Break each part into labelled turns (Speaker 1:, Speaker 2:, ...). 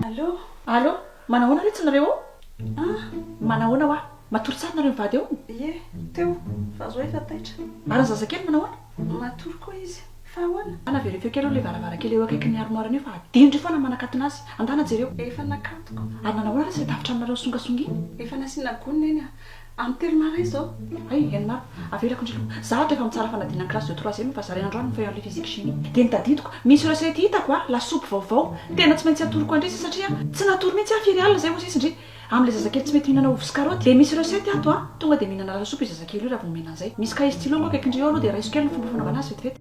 Speaker 1: Allô? Allô? Manahoana
Speaker 2: re tsy nareo ao? Ah, manahoana hoa? Matory tsara nareo mivady ao? Ie, teo,
Speaker 1: fa zao efa taitra. Ary ny zazakely manahoana?
Speaker 2: Matory koa izy.
Speaker 1: Fa ahoana? Ana very feo kely aloha ilay
Speaker 2: varavarankely eo akaikin'ny armoire an'io fa adino ry foana ny manakatona azy. Andana jereo. Efa nakatoko.
Speaker 1: Ary nanahoana re izay
Speaker 2: tafotranonareo songasonga iny? Efa nasiana gony
Speaker 1: neny a. Amin'ny telo marin izao. Hay, eny marina.
Speaker 2: Avelako indray aloha. Izaho ato efa mitsara fanadinana ny classe de troisième fa zaraina androany ny feuille en lait physique chimie. Dia ny tadidiko, misy recette hitako a, lasopy vaovao. Tena tsy maintsy atoroko an-dry izy satria tsy natory mihitsy aho firy alina izay hozy izy ndry. Amin'ilay zazakely tsy mety mihinana ovy sy karaoty. Dia misy recette ato a, tonga dia mihinana lasopy io zazakely io raha vao omena an'izay. Misy cahier stylo angao akaikin-dry eo aloha dia raiso kely ny fomba fanaovana azy vetivety.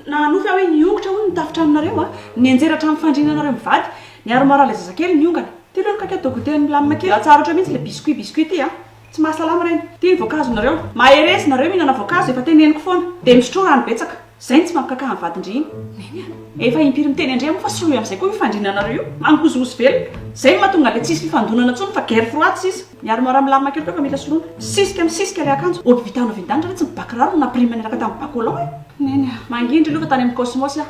Speaker 2: Na hanofy aho hoe niongotra hono ny tafon-tranonareo a! Nianjera hatramin'ny fandriana anareo mivady. Niaro marary ilay zazakely niongana. Ty aloha ny kaka atao goûter milamina kely. Ratsy arotra mihitsy ilay biscuit biscuit ty a! Tsy mahasalama ireny. Ty ny voankazonareo. Mahereza nareo mihinana voankazo, efa teneniko foana. Dia misotroa rano betsaka. Izay no tsy mampikaka ny vadin-dry iny. Neny a! Efa impiry miteny an-dry moa fa soloy amin'izay koa io fandriana anareo io. Mangozohozo velona. Izay no mahatonga an'ilay tsisy fifandonana intsony fa guerre froide sisa. Ny armoire milamina kely koa efa mila soloina. Misisika misisika ilay akanjo. Hobby vita hanovian-danitra ve tsy ny bakiraro no nampirima niaraka tamin'ny bas collant e? Neny a! Mangindry aloha fa tany amin'ny Cosmos aho.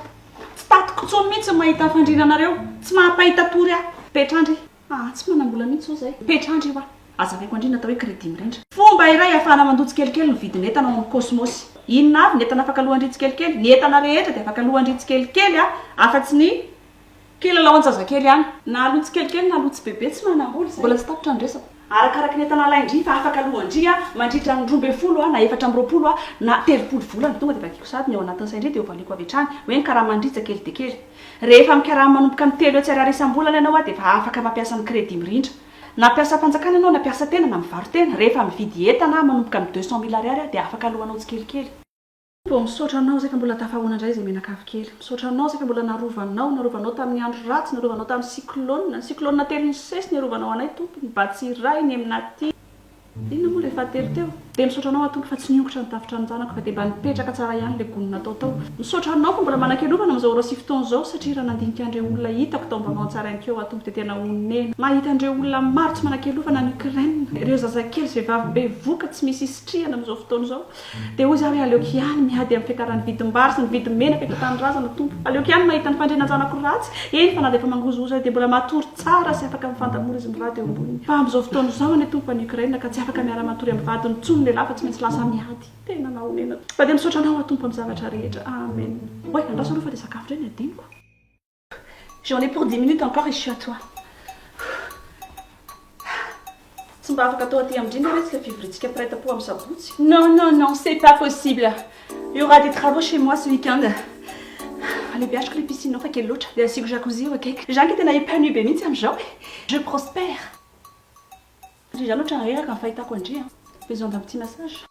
Speaker 2: Tsy tatiko intsony mihitsy ny mahita fandriana anareo. Tsy maha-mpahita tory aho. Petrandry, aa tsy manam-bola mihitsy izao izahay. Petrandry, io aho. Hazavaiko andriana atao hoe crédit mirindra. Fomba iray ahafahana mandoa tsikelikely ny vidin'entana ao amin'ny Cosmos. Inona avy ny entana afaka aloan-dry tsikelikely? Ny entana rehetra dia afaka aloan-dry tsikelikely afa-tsy ny. Kilalao an-jazakely ihany. Na aloha tsikelikely na aloha tsibebe tsy manam-bola izay. Mbola tsy tapitra ny resako. Arakaraky ny entana alain-dry fa afaka aloan-dry mandritra ny roa ambin'ny folo na efatra amby roapolo na telopolo volana. Tonga dia vakiako sahady ny ao anatin'ny sain-dry dia hovaliako avy hatrany hoe ny karaman-dry tsy kely dia kely. Rehefa mikarama manomboka amin'ny telo hetsy ariary isam-bolana ianao dia efa afaka mampiasa ny crédit mirindra. Na mpiasa fanjakana ianao na mpiasa tena na mivaro-tena, rehefa mividy entana manomboka amin'ny deux cent mille ariary dia afaka aloanao tsikelikely. Toa misaotra anao isaka mbola tafahaona indray izay mianakavy kely. Misaotra anao isaka mbola narovanao, narovanao tamin'ny andro ratsy, narovanao tamin'ny cyclone, ny cyclone telo nisesy niarovanao anay Tompo, ny Batsy iray, ny Emnati, inona moa ilay fahatelo teo? Dia misaotra anao aho Tompo fa tsy niongotra ny tafotranonjanako fa dia mba nipetraka tsara ihany ilay gony natao tao. Misaotra anao fa mbola manakelovana amin'izao ora sy fotoana izao satria raha nandinika an'ireo olona hitako tao ambavan'ny tsarain'keo aho Tompo dia tena honena mahita an'ireo olona maro tsy manakelovana any Ukraine, ireo zazakely sy vehivavy bevoka tsy misy isitrihana amin'izao fotoana izao. Dia hoy izy, Ary aleoko ihany miady amin'ny fiakaran'ny vidim-bary sy ny vidin-menaka eto an-tanindrazana, Tompo. Aleoko ihany mahita ny fandrianan'ny zanako ratsy, eny fa na dia efa mangozohozo aza dia mbola matory tsara sy afaka mifandà mora izy mirary eo amboniny. Fa amin'izao fotoana izao anie, Tompo, any Ukraine ka tsy afaka miara-matory amin'ny vadiny intsony ny lehilahy fa tsy maintsy lasa miady. Tena mahonena. Fa dia misaotra Anao aho, Tompo, amin'ny zavatra rehetra. Amen. Oay, andraso aloha fa dia sakafo indray ny adinoko. J'en ai pour dix minutes encore et je suis à toi. Tsy mba afaka atao aty amin-drindra ve tsy ilay fivoriantsika mpiray tampo amin'ny sabotsy? Non, non, non, c'est
Speaker 1: pas possible. Il y aura des travaux chez moi ce week-end.
Speaker 2: Alebihaziko ilay piscine ao fa kely loatra, dia asiako jacuzzi eo akaiky. Zany ka tena épanouie be mihitsy amin'izao e. Je prospère. Satria za loatra reraka ny fahitako an-dry a! Besoin d'un petit massage.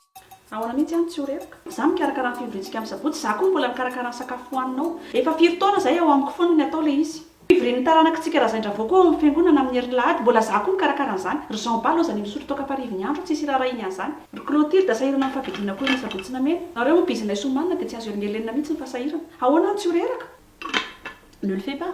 Speaker 2: Ahoana mihitsy an tsy ho reraka? Za mikarakara ny fivoriantsika am sabotsy, za koa mbola mikarakara ny sakafo hohaninao. Efa firy taona zay ao amiko foana ny atao le izy. Fivorian'ny taranakitsika Razaidravo koa ao am fiangonana amin'ny herin'ny lahady, mbola za koa mikarakara an'zany. Ry Jean Bala ozany misotro toaka am-parivon'ny andro, tsisy iraharahiany an'zany. Ry Clotilde a sahirana am favidina koa iny sabotsy namena. Nareo moa bizinaiso omanina dia tsy azo helingelenina mihitsy ny fasahirana. Ahoana an tsy ho reraka? Ne le fais pas.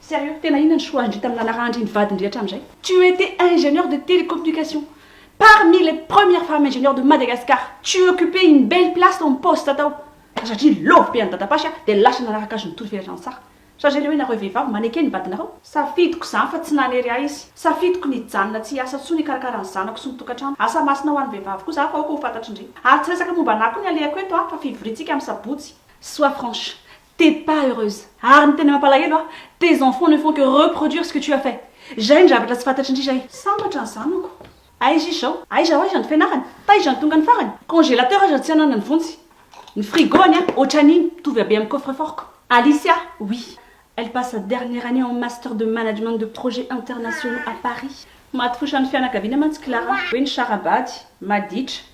Speaker 1: Sérieux? Tena inona ny choix ndry tamin'ny lalaraha ndry ny vady ndry hatramin'izay? Tu etais ingénieur de télécommunication parmi les premières femmes ingénieurs de Madagascar, tu occupais une belle place ton poste tao fa satria love be an'i dadapasy aho dia lasa nanaraka azy nitory velona an-tsaha. Chargé le hoe nareo vehivavy maneke ny vadinareo? Safidiko izany fa tsy nanery ahy izy. Safidiko ny hijanona tsy hiasa intsony hikarakara ny zanako sy ny tokantrano. Asa masina ho an'ny vehivavy kosa aho fa aoka ho fantatry ndry. Ary tsy resaka momba anah koa ny alehako eto an fa fivoriantsika amin'ny sabotsy. Sois franche. T'es pas heureuse ary ny tena mampalahelo a tes enfants ne font que reproduire ce que tu as fait zay ny zavatra tsy fantatry ndry zay. Sambatra ny zanako. Aiza izy zao? Aiza ho aiza ny fianarany? Taiza ny tonga ny farany? Congélateur aza tsy ananany vonjy. Ny frigo anie otran'iny mitovy habe amin'ny coffre fort-ko. Alicia, oui elle passe sa dernière année en master de management de projets internationaux à Paris. Maty fosa ny fianakaviana mantsy Clara hoe nisara-bady, maditra,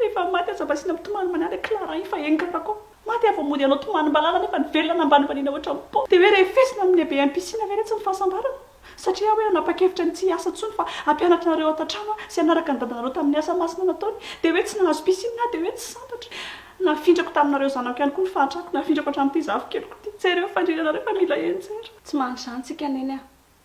Speaker 1: Rehefa maty aza mba asiana mitomany manala i Clara iny fa enganak ao maty ary vao mody hanao tomany malala nefa ny velona nambanimbaniana ohatran'ny pot de hoe refesina amin'ny lehibe MPC na ve retsy ny fahasambarana? Satria aho hoe nanapa-kevitra ny tsy hiasa intsony fa hampianatra anareo ato an-trano aho sy hanaraka ny dadanareo tamin'ny asa masina nataony dia hoe tsy nahazo piscine aho dia hoe tsy sambatra nafindrako taminareo zanako ihany koa ny fahantrako nafindrako hatramin'ity zafikeliko ity jereo fandriana anareo fa mila enjera. Tsy mahantra izany tsika neny a!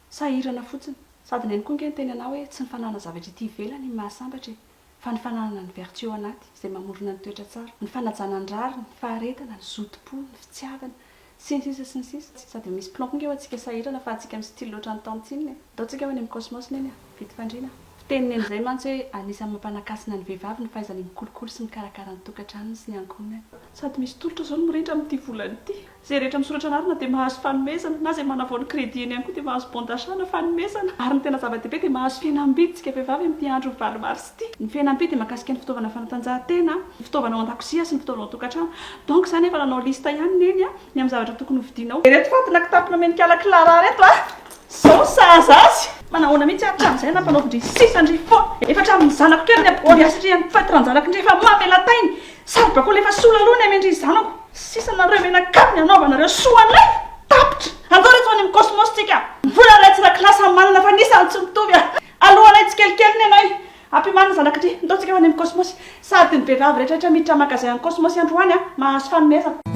Speaker 1: Sahirana fotsiny. Sady neny koa nge niteny anao hoe tsy ny fananana zavatra ety ivelany ny mahasambatra e! Fa ny fananana ny vertu ao anaty, izay mamorona ny toetra tsara. Ny fanajana ny rariny, ny faharetana, ny zotom-po, ny fitiavana. Sy ny sisa sy ny sisa. Sady misy plomb koa nge hoa tsika sahirana fa atsika mi-style loatra ny tany tsinona e! Ndao tsika hoa any amin'ny cosmos neny a! Vita fandriana a! Fiteny neny izay mantsy hoe anisan'ny mampanakasina ny vehivavy ny fahaizany mikolokolo sy mikarakara ny tokantranony sy ny ankohonany. Sady misy tolotra izao ny mirindra amin'ity volana ity. Izay rehetra misoratra anarana dia mahazo fanomezana, na izay manavao ny credit-ny ihany koa dia mahazo bon d'achat na fanomezana. Ary ny tena zava-dehibe dia mahazo fihenam-bidy isika vehivavy amin'ity andron'ny valo mars ity. Ny fihenam-bidy dia mahakasika ny fitaovana fanatanjahantena, ny fitaovana ao an-dakozia sy ny fitaovana ao an-tokantrano. Donc izany efa nanao liste ihany Neny a, ny amin'ny zavatra tokony hovidianao. Ireto fatina kitapo nomen'i kala Clara reto a! Zao ny sahaza azy! Manahoana mihitsy ary hatramin'izay nampanaovin-dry sisa an-dry fô? Efa hatramin'ny zanako kely ny aboly hasirihan'ny fatiran-janakindry efa mamela tainy! Sary bakoly efa sola aloha ny amin-dry zanako! Sisa nareo menakavy ny hanaovanareo soa anay! Tapitra! Andao reto any amin'ny Cosmos tsika! Mbola iray tsy rakilahy samy manana fa ny isany tsy mitovy a! Alohanay tsikelikely ny anay! Ampimano ny zanakindry! Ndao tsika ho any amin'ny Cosmos! Sady ny vehivavy rehetrarehetra miditra magasin any Cosmos androany a! Mahazo fanomezana!